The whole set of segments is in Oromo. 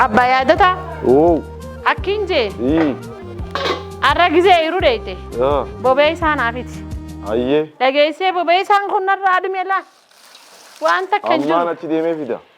Abbaa yaadota Oo. akkiin jee Ii. arra gizee iruu deeyte Yaa. bobee isaa naafiti. Ayyee. Dhageessee bobee isaan kun narraa dhume laa. Waan takka hin Ammaan jiru. achi deemee fida.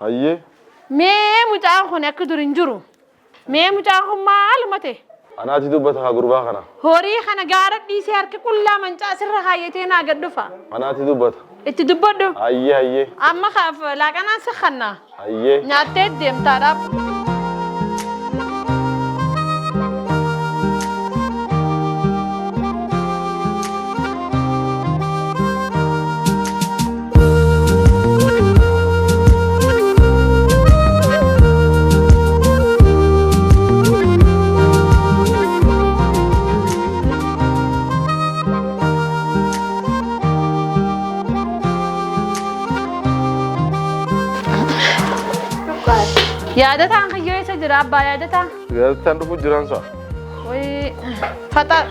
Hayyee. Mee mucaan kun akka dur hin jiru. Mee mucaan kun maaluma ta'e? Anaati dubbata kaa gurbaa kana. Horii kana gaara dhiisee harka qullaa mancaa sirra kaayyatee naa gad dhufa. Anaati dubbata. Itti dubbadhu. Hayyee hayyee. Amma kaaf laaqanaan si kanna. Hayyee. Nyaattee deemtaa dhaab. Yaadataan kan yoo isa jira abbaa yaadataa. Yaadataan dhufuu jiraan sa'a. Wayii faxaa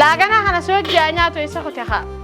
laaganaa kana si hojjaa nyaatu isa kute haa.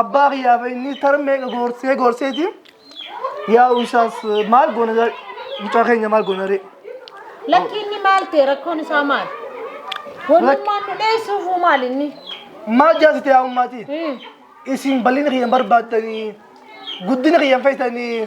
Abbaa kiyyaa fi inni taran meeqa goorsee goorseeti yaa'u isaas maal goona gaa- mucaa keenya maal goona ree. Lakki inni maal ta'e rakkoon isaa maal? Wannummaan nu dheessuufuu maal inni? Maal jaasite yaa ummaatii? Hmm. Isin bal'ina kiyyan barbaaddanii guddina kiyyan feetanii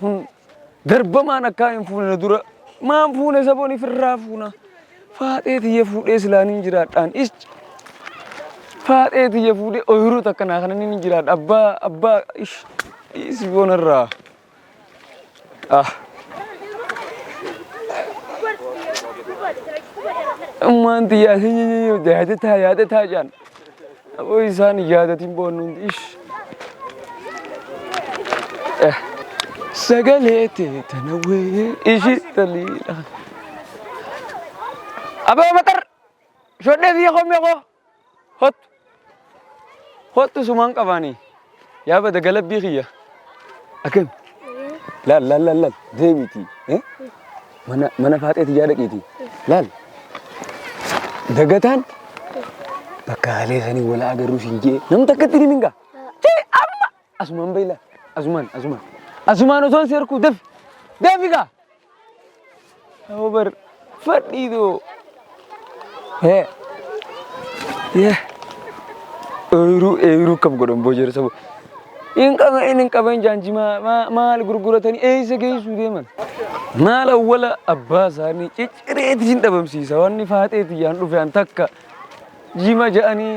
Kun darbamaan akkaa hin fuune na dura maan fuune saboon ifirraa fuuna. Faaxee tiyya fuudhee silaa niin jiraadhaan isci. Faaxee tiyya fuudhee oyiruu takka naa kana niin jiraadha abbaa abbaa ish dhiisi boonarraa. Ah. Ummaan tiyyaa yaadataa yaadataa jaan. Aboo isaan hin yaadatiin boonnu hundi ish. Eh, Sagalee tee tana wee ishi taliidha. Aboo maxar shodhee biyya koo mi'a koo hottu hottu sumaan qabaanii. Yaa bada galabbii kiyya. Akam. Laal laal laal laal deemiitii. eh? Mana mana faaxee tiyyaa dhaqiitii. Laal. Dagataan bakka haalee sanii wala agarruu siin jee namni takkatti ni mingaa. Jee amma asumaan bayi laal. Asumaan asumaan. Asumaan osoon si harkuu dafi. Dafi gaa. Over. Fadhiido. He. Ye. Ooyiruu ooyiruu kam godhan boojeera sabo. Hin qaban hin qaban jaanji maa- maa- maal gurguratanii eessa geessuu deeman. Maal awwala abbaa isaanii ciccireeti hin dhabamsiisa wanni faaxeeti yaan dhufe an takka jima ja'anii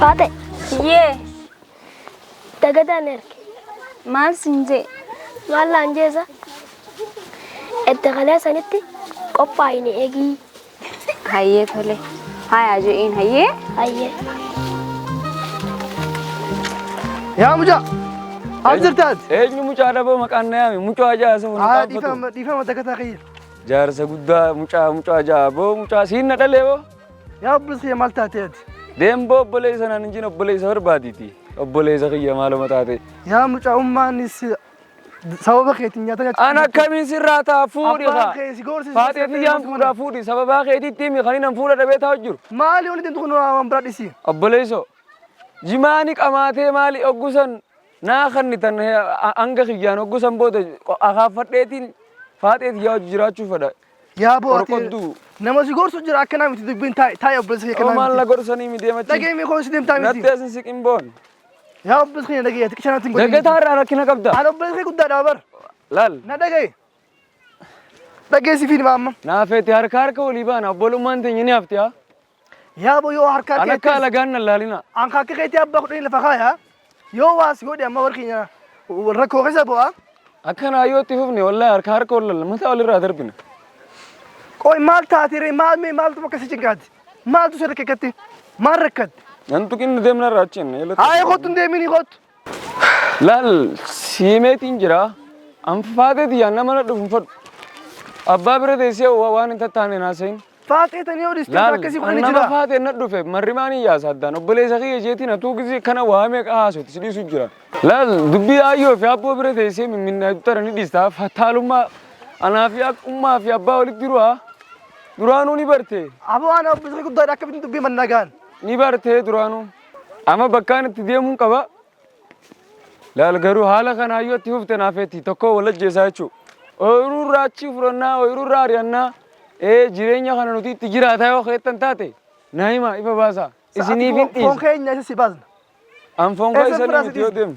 Faate Yee dagataan erge maal sin jee maal laan jeesa edda kalee sanitti qophaa'ine eegii Hayyee tole. Haayaa je'een hayyee. Hayyee. Yaa mucaa. As jirtaas. Eenyu mucaa dhaboo maqaan na yaame mucaa jaasa wal Haa qaabatu. dhiifama dhiifama dagataa kiyya. Jaarsa guddaa mucaa mucaa ja'a boo mucaa siin na dhalee boo. Yaa obboleessa maal taatee ati? Deemboo obboleessa naan hin jin obboleessa barbaaditi. Obboleessa kiyya maaluma taate. Yaa mucaa ummaanis Sababa keetiin nyaata nyaachuu An akkamiin sirraa ta'a fuudhi Abbaan kaa. kee si gorsise Faatee seettee tiyyaan ilma fuudhaa fuudhi sababaa keetiitti himi kan hin fuudha dhabee taa'u jiru. Maali wanti deemtu kun waan biraa dhisi. Obboleessoo jimaani qamaatee maali oggusan naa kannitan he- a- hanga kiyyaan oggusan booda qo- akaaffadheetiin faatee tiyyaa hojii jiraachuu fedha. Yaa boo ati Qorqodduu. nama si gorsu jira akka naa miti dubbiin taa'e taa'e obboleessa kee Yoo kanaa maal na miti. gorsanii mi deemachi? Dhagee mee koo si deemtaa miti. Natti asin siqin boon. Yaa obboleessa keenya dhaga'i ati qishanatti hin godhin. Dagataa irraa rakkina qabda. Ani obboleessa kee guddaadha bar. Laal. Na dhaga'i. Dhageessi fiilma amma. Naafeeti harka harka walii baana obbolummaan teenya ni hafti haa. Yaa boo yoo harka An akka keetti alagaan nan laalina. an harka keetti abbaa kudhanii lafa kaaya. Yoo waas godhi amma warri keenya rakkoo keessa bu'a. Akkanaa yoo itti fufne wallahi harka harka wal lalla mataa walirraa darbina. Qoy maal taati ree maal mee maaltu bakka si cinqaati. Maaltu sirri kekkatti? Maal rakkatte? Nan tuqinna deemna irraa achi jenne. Haayee kottu hin deeminii kottu. Laal siimeetiin jira. Anfaateeti yaa nama na dhufu fadhu. Abbaa bira teessee wa- waan hin tattaane naasayin. Faaxee tanii yoo dhistee Laal akkasii godhanii nama jira. faate na dhufe marrimaan hin yaasa addaan obboleessa kiyya jeetiin atuu gisee kana waamee qahaasuutti si dhiisu jira. Laal dubbii aayyoo fi abboo bira teessee mimminnaa tara ni dhiistaa fataalummaa anaa fi ummaa fi abbaa walitti jiru haa. Duraanuu ni barte. Aboo ana obbisri guddaadha akkamittiin dubbii man nagaan. Ni barte duraanuu. Ama bakkaan itti deemuun qaba. Laal garuu haala kana hayyoo itti fufte naafeetti tokkoo wal ajjeesaa jechuu. Ooyiruu irraa achii fudhannaa, ooyiruu irraa ari'annaa. Ee jireenya kana nuti itti jiraataa yoo keettan taate na hima ifa baasaa. Isiniif hin dhiisa. Foon keenya isa si baasna. An foon koo isa ni miti yoo deemu.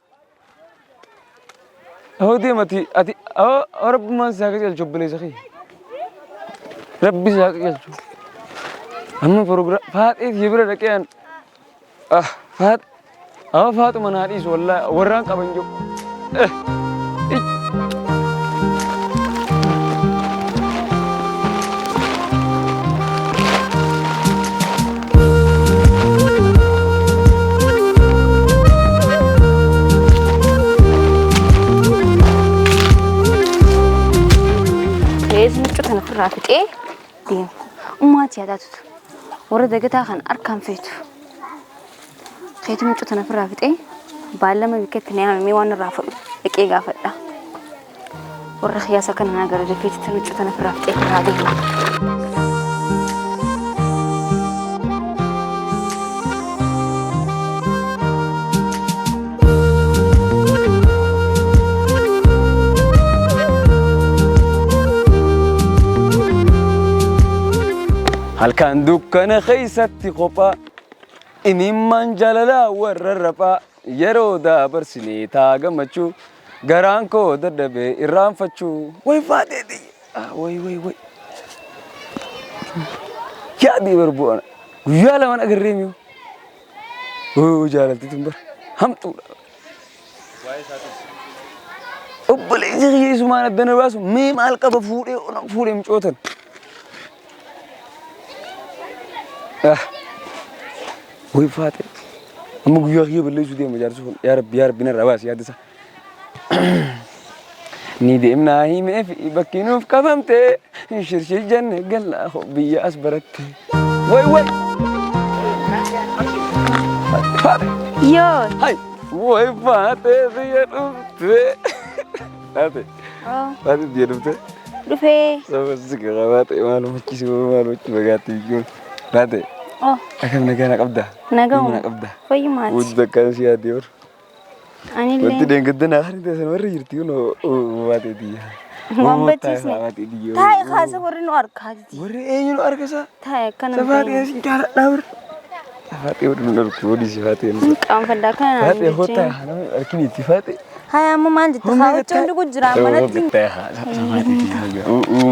Hoo deemati ati hoo rabbumaan si haa qajeelchu obboleessa kee. Rabbi si haa qajeelchu. Amma prograam faaxee si bira dhaqee an ah faax amma faaxuma naa dhiisu wallaahi warraan qaban jiru. Eh. ij. Reezi miccuu tana ofirraa fixee deema. Ummaati yaadaa tutu. Warra dagataa kan harkaan feetu. Keetu miccuu tana ofirraa fixee baallama bikkeetti na yaamamee waan irraa fudhu dhaqee gaafadha. Warra kiyaasaa kana naa gara dafeeti tan huccuu tana firaaf xeefiraa deema. Halkan dukkana keessatti kophaa imimmaan jaalalaa warra raphaa. Yeroo dabarsine taa gammachuu. Garaan koo dadhabe irraanfachuu. Way faatee tiyya way way way. Yaadii barbuu ana. Guyyaa lamaan agarree miyoo. Wuu jaalalti tun bara. Hamtuudha. Obboleessi kiyya isumaan addana baasu mee maal qaba fuudhee onan fuudhee mucootan. Wai faate. Amma guyyaa kiyya balleessuu deema jaarsi kun. Yaa rabbi yaa rabbi narraa baasi yaadda isaa. Ni deemnaa himee fi bakki nuuf qabamte shirshii janne gallaa hoo biyya as baratte. Wai wai. Faate. Yoo. Hai. Wai faate biyya dhufte. Faate. Maatiif biyya dhufte. Dhufee. Sababni garaa baate maal hojjechiisu maal hojjechiisu bagaatti biyyoon baate. Akkam nagaa na qabda. Nagaa na qabda. Fayyumaati. Hojii takkaan si yaadee bar. Anillee. Wanti deengedda naa kan ta'e warri jirti kun baate biyya. Waan bachiisne. Taa'e kaasa warri nu argaa jirti. Warri eenyu nu argasa. Taa'e akkana. Sabaatee si jaaladhaa bar. Sabaatee warri nu argu warri si faatee. Qaanfaddaa kana. Faatee hootaa namni arginu itti faatee. Haya amma maal jetta? Haa huccuun dhugu jira manatti.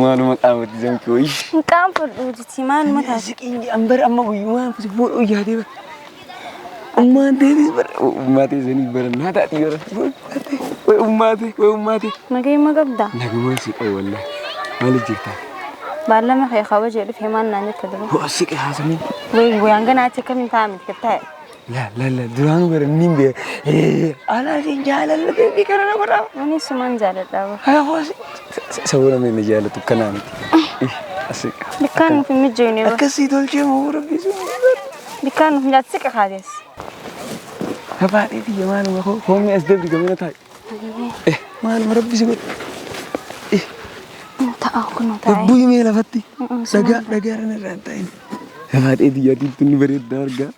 Maaluma qaamatti zamki wayii. Hin qaanfadhu jiti maaluma taate. Siqiin jedhan bara amma guyyumaan si fuudhuu yaadee bara. Ummaan deetis bara ummaa teessanii bara naa taati bara. Way ummaa tee way ummaa tee. Nagee ma qabda? Nagumaan si qabu wallah. Maal jirtaa? Baallama kee kabaja dhufe maal naan jetta dura. Siqi haasamuu. Way way hanga naatti akkamiin taa'amit gattaa'e. La la la duraanu bara inni hin beeku. Ee anaa isin jaalallu beebii kana na godhaa. Ani suman jaaladha. Hafuus sabuu namni inni jaallatu kanaa miti. Asii. Bikkaan nuuf hin mijjooyne bara. Akkasii tolchee moo rabbii sun. Bikkaan nuuf nyaatti siqa kaates. Gabaadhee biyya maaluma koo hoomni as deebi gamina taa'e. Eh maaluma rabbi si godhe. Ta'a kun taa'e. Lubbuu himee lafatti. Dhagaa dhagaa irra irraa hin taa'in. Gabaadhee biyya adiitti inni bareeddaa argaa.